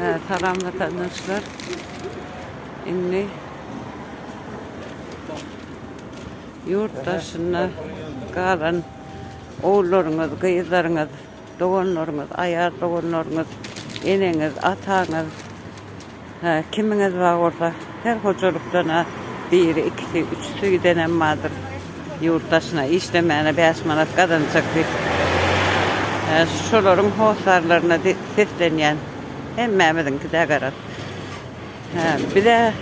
Salam watandaşlar. Indi ýurt daşynda galan ogullaryňyz, gyzlaryňyz, doganlaryňyz, aýal doganlaryňyz, eneňiz, ataňyz, Hä, kimiňiz bar bolsa, her hojalykdan-a biri, ikisi, üçüsi gidenem bardyr. Ýurt daşyna işlemäne bäş manat gazanjak diýip. Hä, şolaryň hossarlaryna seslenýän. Hemmämiziňki-dä garaz. Hä, biz-ä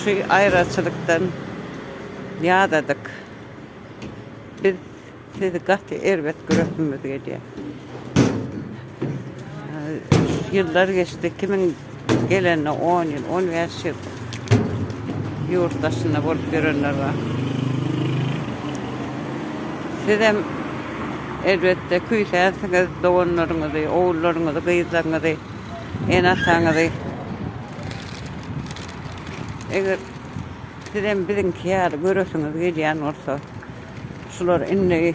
şu aýraçylykdan ýadadyk. Biz. Siz gaty erbet göresimiz gelýär. Ýyllar geçdi, kimin gelenine on ýyl, on bäş ýyl ýurt daşynda bolup ýörenler bar. Sizem elbetde küýsänsiňiz doganlaryňyzy, ogullaryňyzy, gyzlaryňyzy, ene-ataňyzy. Eger sizem biziňki ýaly göresiňiz gelýän bolsa, Şular indi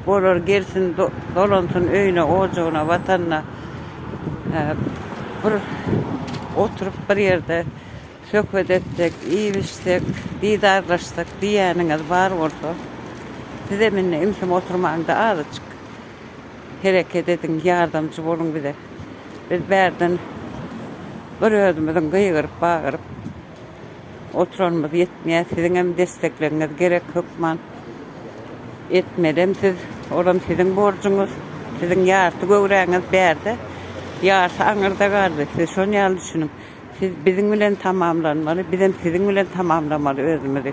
bolar gelsin dolansyn öýüne ojagyna watanyna bir oturyp bir ýerde söhbet etsek iýip içsek didarlaşsak diýýäniňiz bar bolsa sizem indi imsim oturmaňda azyjyk hereket ediň ýardamçy boluň bize biz bärden bir özümiziň gygyryp bagyryp Oturanymyz ýetmeýär siziňem desteklegiňiz gerek hökman etmelem siz olam siziň borjuňyz siziň ýarty göwräňiz bärde ýarsy aňyrda galdy siz şon ýaly düşüniň siz biziň bilen tamamlanmaly bizem siziň bilen tamamlamaly özümizi.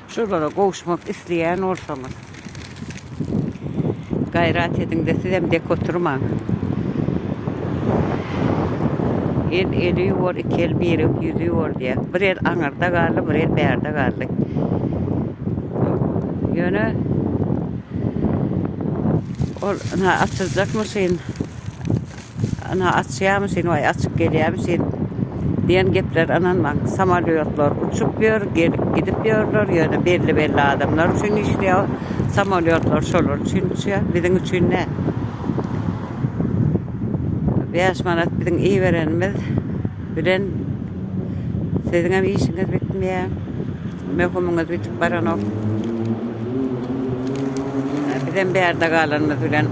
Şulara gowuşmak isleýän bolsaňyz gaýrat ediňde sizem dek oturmaň. El eli ýuwar iki el birek ýüzi ýuwar diýýär. Bir el aňyrda galdy bir el bärde galdy. Ýöne ol ynha açyljak maşyn Ynha, açýarmyşyn, waý, açyp gelýärmişin diýen geplere ynanmaň. Samolýotlar uçup ýör, gelip gidip ýörler, ýöne belli-belli adamlar üçin işleýär. Samolýotlar şolar üçin uçýar, biziň üçin däl. Bäş manat biziň iberenimiz bilen siziňem işiňiz bitmeýär, möhümiňiz bitip baranok. Bizem bärde galanymyz bilen.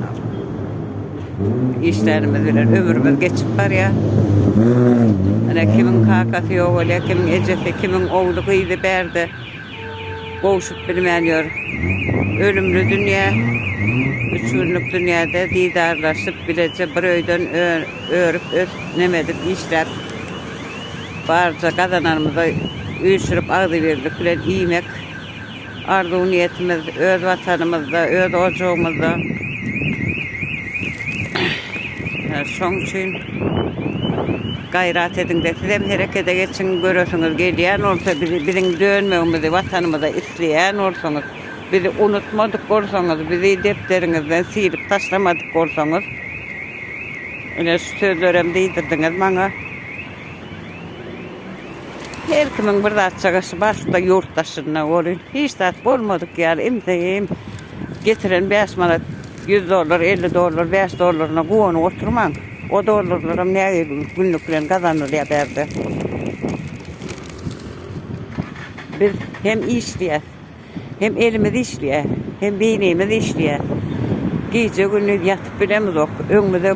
Işlerimiz bilen ömrümiz geçip barýar. Ine kimiň kakasy ýok bolýar, kimiň ejesi, kimiň ogly, gyzy bärde gowşup bilmän ýör. Ölümli dünýä, üç günlük dünýäde didarlaşyp, bileje bir öýden örüp, ösüp, neme edip, işläp, barja gazananymyzy üýşürip, agzybirlik bilen iýmek. arzuw-niýetimiz öz Watanymyzda, öz ojagymyzda. Şoň üçin gaýrat ediň-de, sizem herekete geçiň, göresiňiz gelýän bolsa, bizi, biziň dönmegimizi Watanymyza isleýän bolsaňyz, bizi unutmadyk bolsaňyz, bizi depderiňizden silip taşlamadyk bolsaňyz, ine, şu sözlerem diýdirdiňiz maňa. Her kimiň bir zat çagasy barsyda ýurt daşynda welin hiç zat bolmadyk ýaly imseýin getiren bäş manat ýüz dollar elli dollar bäş dollaryna guwanyp oturmaň o dollarlaram näge günlük bilen gazanylýar bärde biz hem işleýäs. Hem elimiz işleýär, hem beýnimiz işleýär. Gije-gündiz ýatyp bilemizok. Öňümize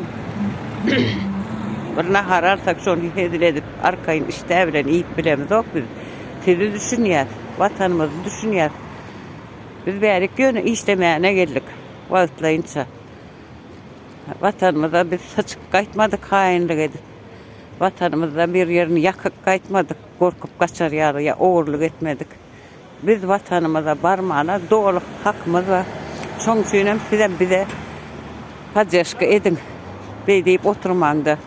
bir nahar alsak, şony hezil edip, arkaýyn işdä bilen iýip bilemizok biz. Sizi düşünýäs, Watanymyzy düşünýäs. Biz bärik ýöne işlemäne geldik, wagtlaýynça. Watanymyza biz syçyp gaýtmadyk haýynlyk edip. Watanymyzda bir ýerini ýakyp gaýtmadyk, gorkup gaçar ýaly ýa ogurlyk etmedik. Biz watanymyza barmana doly hakymyz bar. Şoň üçin hem sizem bize poddeşka ediň. Beý diýip oturmaňda.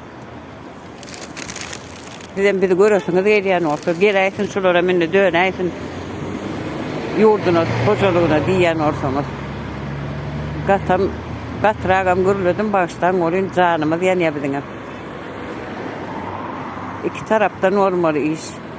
Sizem bizi göresiňiz gelýän bolsa, geläýsin şularem indi dönäýsin ýurduna, hojalygyna diýýän bolsaňyz. Gatam, gatragam gürledim, bagyşlaň bolýn, janymyz ýanýar biziňem. Iki tarapdan bolmaly iş.